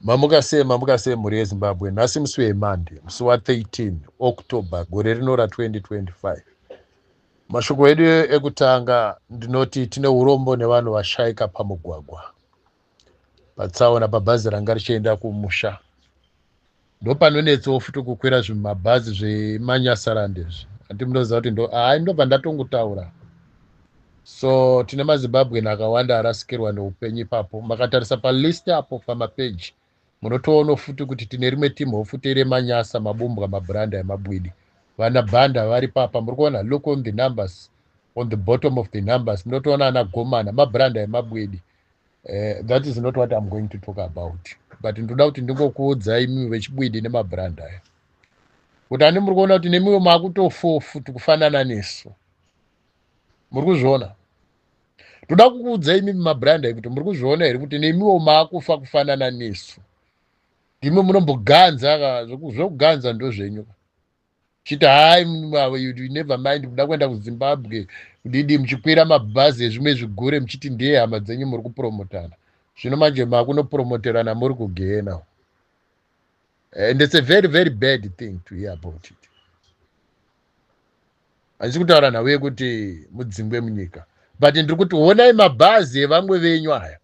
Mamuka sei mamuka sei mhuri yezimbabwe nhasi musi wemande musi wa 13 october gore rino ra 2025 mashoko edu ekutanga ndinoti tine urombo nevanhu vashaika pamugwagwa patsaona pabhazi ranga richienda kumusha ndopanonetsawo futi kukwira zvimabhazi zvemanyasarandezvi ati munoziva kuti ndo ai ndobva ndatongotaura So tine maZimbabwean akawanda arasikirwa neupenyu ipapo. Makatarisa palist apo pamapeji munotoono futi kuti tine rimwe team hofute remanyasa mabumbwa mabranda emabwidi vana banda vari papa muri kuona look on the numbers on the bottom of the numbers munotoona ana gomana mabranda emabwidi uh, that is not what im going to talk about but ndoda kuti ndingokuudzai mimi vechibwidi nemabranda aya kuti ani muri kuona kuti nemiwo makutofofu tikufanana nesu muri kuzviona toda kukuudza imi mabranda ekuti muri kuzviona here kuti nemiwo maakufa kufanana nesu ndimwe munomboganza zvekuganza ndo zvenyu chiti hai never mind muda kuenda kuzimbabwe kudidi muchikwira mabhazi ezvimwe zvigure muchiti ndeye hama dzenyu muri kupromotana zvino manje makunopromoterana muri kugena and it's a very very bad thing to hear about it handisi kutaura nhau yekuti mudzingwe munyika but ndiri kuti honai mabhazi evamwe venyu aya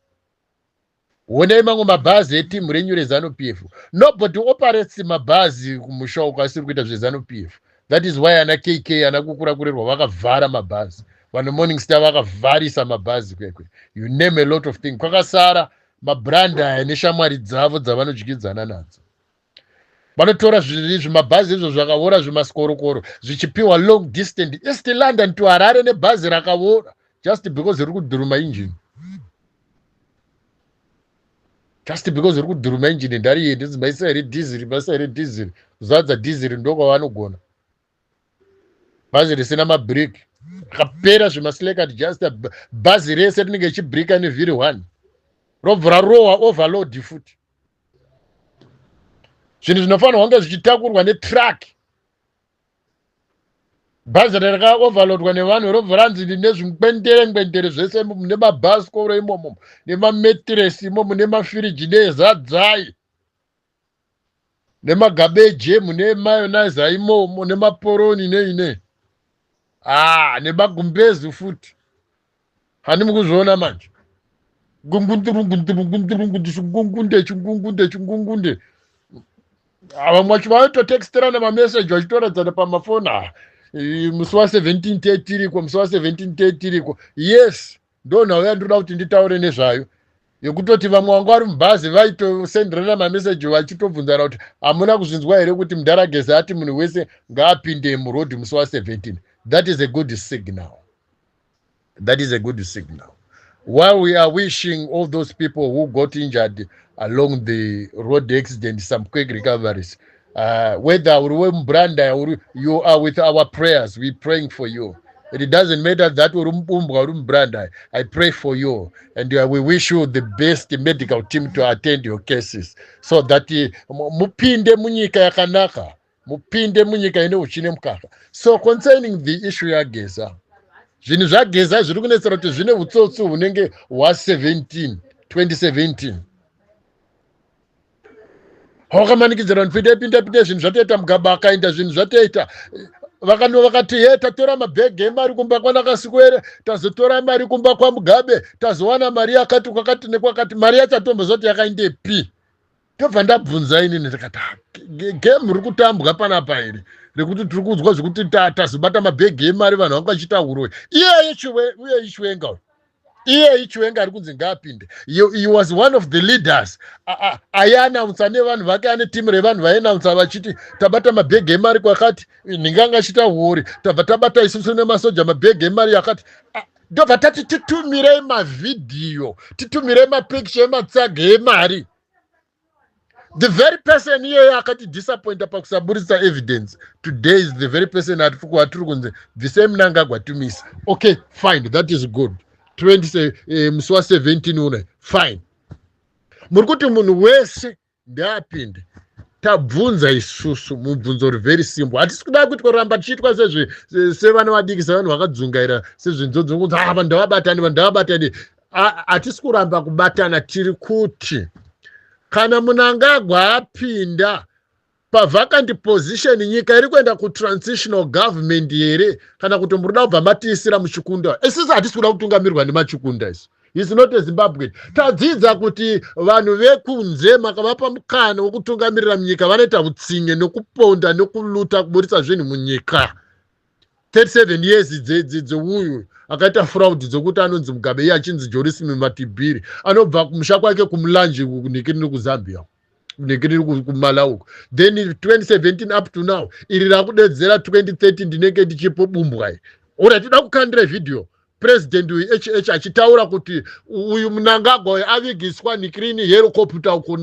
honai mamwe mabhazi etimu renyu rezanu p f nobody operates mabhazi kumusha uko asiri kuita zvezanu p f that is why ana kk ana kukura kurerwa vakavhara mabhazi vanhu morning star vakavharisa mabhazi kwekwe you name a lot of thing kwakasara mabrand aya neshamwari dzavo dzavanodyidzana nadzo vanotora zvimabhazi izvo zvakavora zvimaskorokoro zvichipiwa long distant east london to harare nebhazi rakavora just because riri kudhuruma injini just because riri kudhuruma injini ndariye ndizimaisa here dhiziri maisa here dhiziri zadza dhiziri ndokwavanogona bhazi risina mabreak akapera zvemaslakat just bhazi rese rinenge ichibrika nevhiri one robva rarohwa overload futi zvinhu zvinofanirwa kunge zvichitakurwa netruck bhazi rakaoverloadwa nevanhu robva ranzi nezvikwendere ngwendere zvese nemabhasikoro imomo nemametiresi imomo nemafiriji nezadzai nemagabeje mune mayonise aimomo nemaporoni nei nei ah nemagumbezi futi hani mukuzviona manje gungundirungundirungundirungundi chingungunde chingungunde chingungunde vamwe vacho vaitotexterana mameseji vachitoradzana pamafoni aa musi wa 17 te tiriko musi wa 17 te tiriko yes ndonhau yandinoda kuti nditaure nezvayo yekutoti vamwe vanga vari mubhazi vaitosenderana mameseji vachitobvunzana kuti hamuna kuzvinzwa here kuti mdaragezi ati munhu wese ngaapinde muroad musi wa17 that is a good signal that is a good signal while we are wishing all those people who got injured along the road accident some quick recoveries uh, whether uri wemubranda uri you are with our prayers we praying for you it doesn't matter that uri mubumbwa uri mubranda i pray for you and uh, we wish you the best medical team to attend your cases so that uh, mupinde munyika yakanaka mupinde munyika ine uchine mukaka so concerning the issue yageza zvinhu zvageza zviri kunetsera kuti zvine utsotsi hunenge hwa 17 2017 hawakamanikidzira vanhu pinde pinda pinda zvinhu zvatoita mugaba akaenda zvinhu zvatoita vakanwa vakati he tatora mabhegi emari kumba kwanakasikwere tazotora mari kumba kwamugabe tazowana mari yakati kwakati nekwakati mari yachatombo zvati yakaindepi ndobva ndabvunza inini ndikati ah, game ri kutambwa panapa here rekuti tiri kunzwa zvekuti tazobata mabhegi emari vanhu vanga vachita uroyi iyeye uye ichiwenga uyo iyeyi chiwenga ari kunzi ngaapinde he was one of the leaders aianaunsa nevanhu vake ane timu revanhu vaianaunsa vachiti tabata mabhegi emari kwakati ndinganga chita huori tabva tabata isusu nemasoja mabhegi emari yakati ndobva tati titumirei mavhidhiyo titumirei mapikicha ematsaga emari the very person iyeyo akatidisappointa pakusaburitsa evidence today is the very person atiri kunzi bvisei munangagwa tumisa okay fine that is good 20 eh, musi wa 17 une fine muri kuti munhu wese ndeapinde tabvunza isusu mubvunzo uri very simple hatisi kuda kuitwa ramba tichiitwa sevana vadiki sevanhu vakadzungaira sezvinzodzi kunzi ah vanhu ndavabatani vanhu ndavabatani hatisi kuramba kubatana tiri kuti kana munangagwa apinda pavacant position nyika iri kuenda kutransitional government here kana kuti muri kuda kubva matiisira muchikunda isisi hatisi kuda kutungamirwa nemachikunda isu is not a zimbabwean tadzidza kuti vanhu vekunze makavapa mukana wekutungamirira munyika vanoita utsinye nekuponda nekuluta kuburitsa zvinhu munyika 37 years dzeuyu akaita fraud dzekuti anonzi mugabe iye achinzi jorismi matibhiri anobva kumusha kwake kumulanje kunhikiriri kuzambia kunhikiriri kumala uko then 2017 up to now iri rakudedzera 2030 ndinenge ndichipo bumbwa iri ora tida kukandira vhidhiyo president uyu hh achitaura kuti uyu munangagwa uyu avigiswa nikrini herocopta uko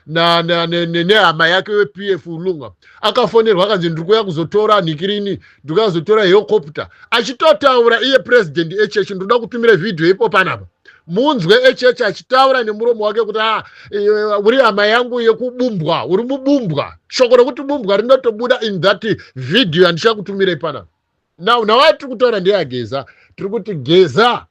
nehama yake wep f lunga akafonerwa akanzi ndiri kuya kuzotora nikrini ndiri kuya kuzotora herocopta achitotaura iye president hh ndoda kutumira vhidhiyo ipo panapa munzwe hh achitaura nemuromo wake kuti a ah, eh, uri hama yangu yekubumbwa uri mubumbwa shoko rekuti bumbwa rinotobuda in that vhidhiyo yandichakutumirei panapa now nhau yatiri kutaura ndeyageza tiri kuti geza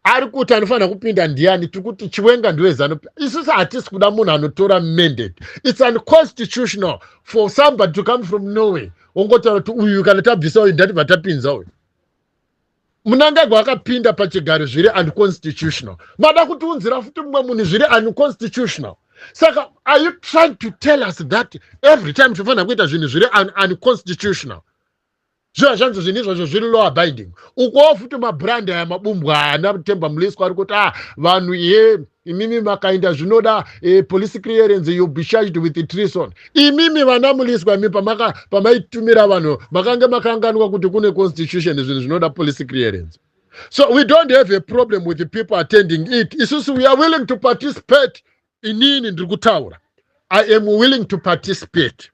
ari kuti anofanira kupinda ndiani tiri kuti chiwenga ndiwezanup isusu hatisi kuda munhu anotora mandate its unconstitutional for somebody to come from norway ongotaura kuti uyu kana tabvisa uyu ndatibva tapinza uyu munangagwa akapinda pachigaro zviri unconstitutional mada kutiunzira futi mumwe munhu zviri unconstitutional saka are you trying to tell us that every time tinofanira kuita zvinhu zviri unconstitutional zviva zvanzi zvinhu izvozvo zviri lower binding ukuwo futi mabrand aya mabumbwa ana temba muliswa ari kuti a ah, vanhu ye imimi makainda zvinoda eh, police clearance you be charged with treason imimi vana muliswa imi pamaitumira vanhu makange makanganwa kuti kune constitution zvinhu zvinoda police clearance so we don't have a problem with the people attending it isusu we are willing to participate inini ndiri kutaura i am willing to participate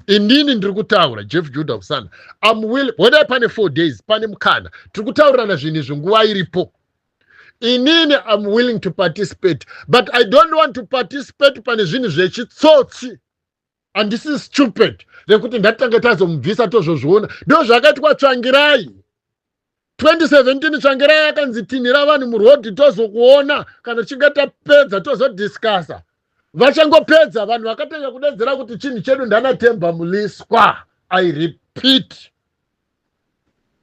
inini ndiri kutaura jeff juda kusana am willing hodai pane four days pane mukana tiri kutaurirana zvinhu izvi nguva iripo inini im willing to participate but i don't want to participate pane zvinhu zvechitsotsi handisi stupid rekuti ndatanga tazomubvisa tozvozviona ndo zvakaitwa tsvangirai 2017 tsvangirai akanzi tinhira vanhu murhodhi tozokuona kana tichinge tapedza tozodiscasa vachangopedza vanhu vakatanga kudedzera kuti chinhu chedu ndanatemba muliswa i repeat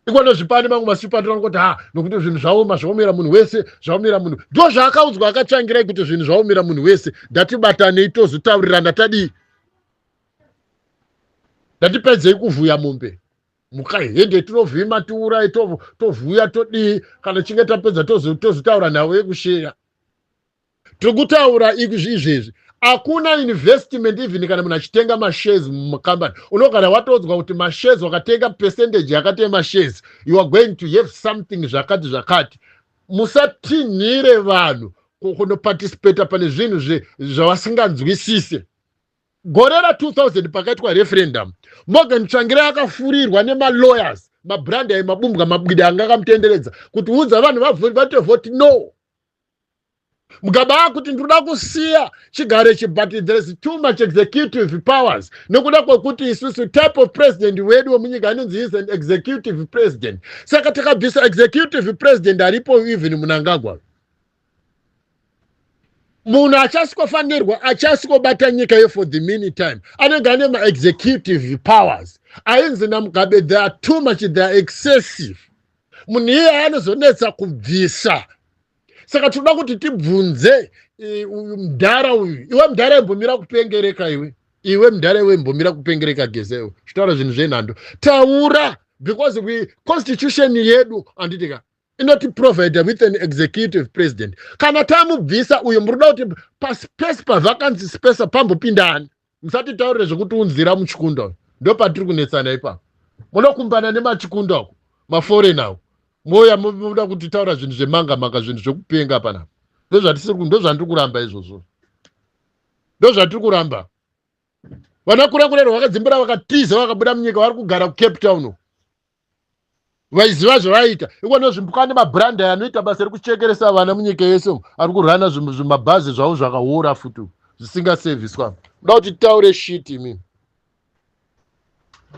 ikona zvipani mamwe masipani tinoona kuti ha nokuti zvinhu zvaoma zvaomera munhu wese zvaomera munhu ndo zvaakaudzwa akatsvangirai kuti zvinhu zvaomera munhu wese ndatibatanei tozotaurirana tadii ndatipedzei kuvhuya mombe mukahende tinovhima tiurai tovhuya todii kana chinge tapedza tozotaura nhau yekusheya tiri kutaura izvezvi hakuna investment even kana munhu achitenga mashares mucompany unogara watodzwa kuti mashares wakatenga percentage yakati yemashares you are going to have something zvakati zvakati musatinhire vanhu kunoparticipata pane zvinhu zvavasinganzwisise gore ra2000 pakaitwa referendum morgan tsvangira akafurirwa nemalawyers mabrandi ayo mabumbwa mabwidi anga akamutenderedza kuti udza vanhu vavoti voti no mukaba akuti ndinoda kusiya chigare chi but there's too much executive powers nokuda kwekuti isusu type of president wedu wemunyika anonzi is an executive president saka takabvisa executive president aripo even munangagwa munhu achasikofanirwa achasikobata nyika yo for the mini time anenge ane maexecutive powers ainzi namugabe they are too much they are excessive munhu iyeye anozonetsa kubvisa saka tinoda kuti tibvunze e, uyu mdhara uyu iwe mdhara imbomira kupengereka iwe iwe mdhara iwe imbomira kupengereka gezewe zvitaura zvinhu zvenhando taura because we constitution yedu anditika inotiprovider with an executive president kana tamubvisa uyo murikuda kuti paspace pavakanzi space pambopindani musatitaurire zvekuti unzira muchikunda uyu ndopatiri kunetsana ipapo munokumbana nemachikunda uku maforena uku mouya muda kutitaura zvinhu zvemanga manga zvinhu zvekupenga panapa ndozvandiri kuramba izvozvo ndozvatiri kuramba vana kurakurero vakadzimbira vakatiza vakabuda munyika vari kugara kucape town vaiziva zvavaiita ikona zvimbuka ane mabrand aya anoita basa rekuchekeresa vana munyika yese ari kurana zvimabhazi zvavo zvakawora futi zvisingaseviswa kuda kuti taure shit imini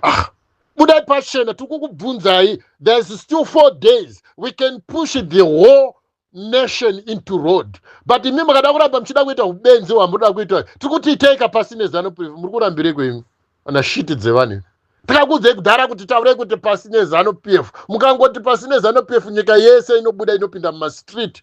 ah, budai pachena tiri kukubvunzai thereis still four days we can push the whole nation into road but imi makada kuramba muchida kuita ubenzi hwamunoda kuita tiri kuti itai kapasi nezano pf muri kurambirei kwenyu ana shiti dzevanhu tikakuudzei kudhara kuti taurei kuti pasi nezano pf mukangoti pasi nezano pf nyika yese inobuda inopinda mumastreet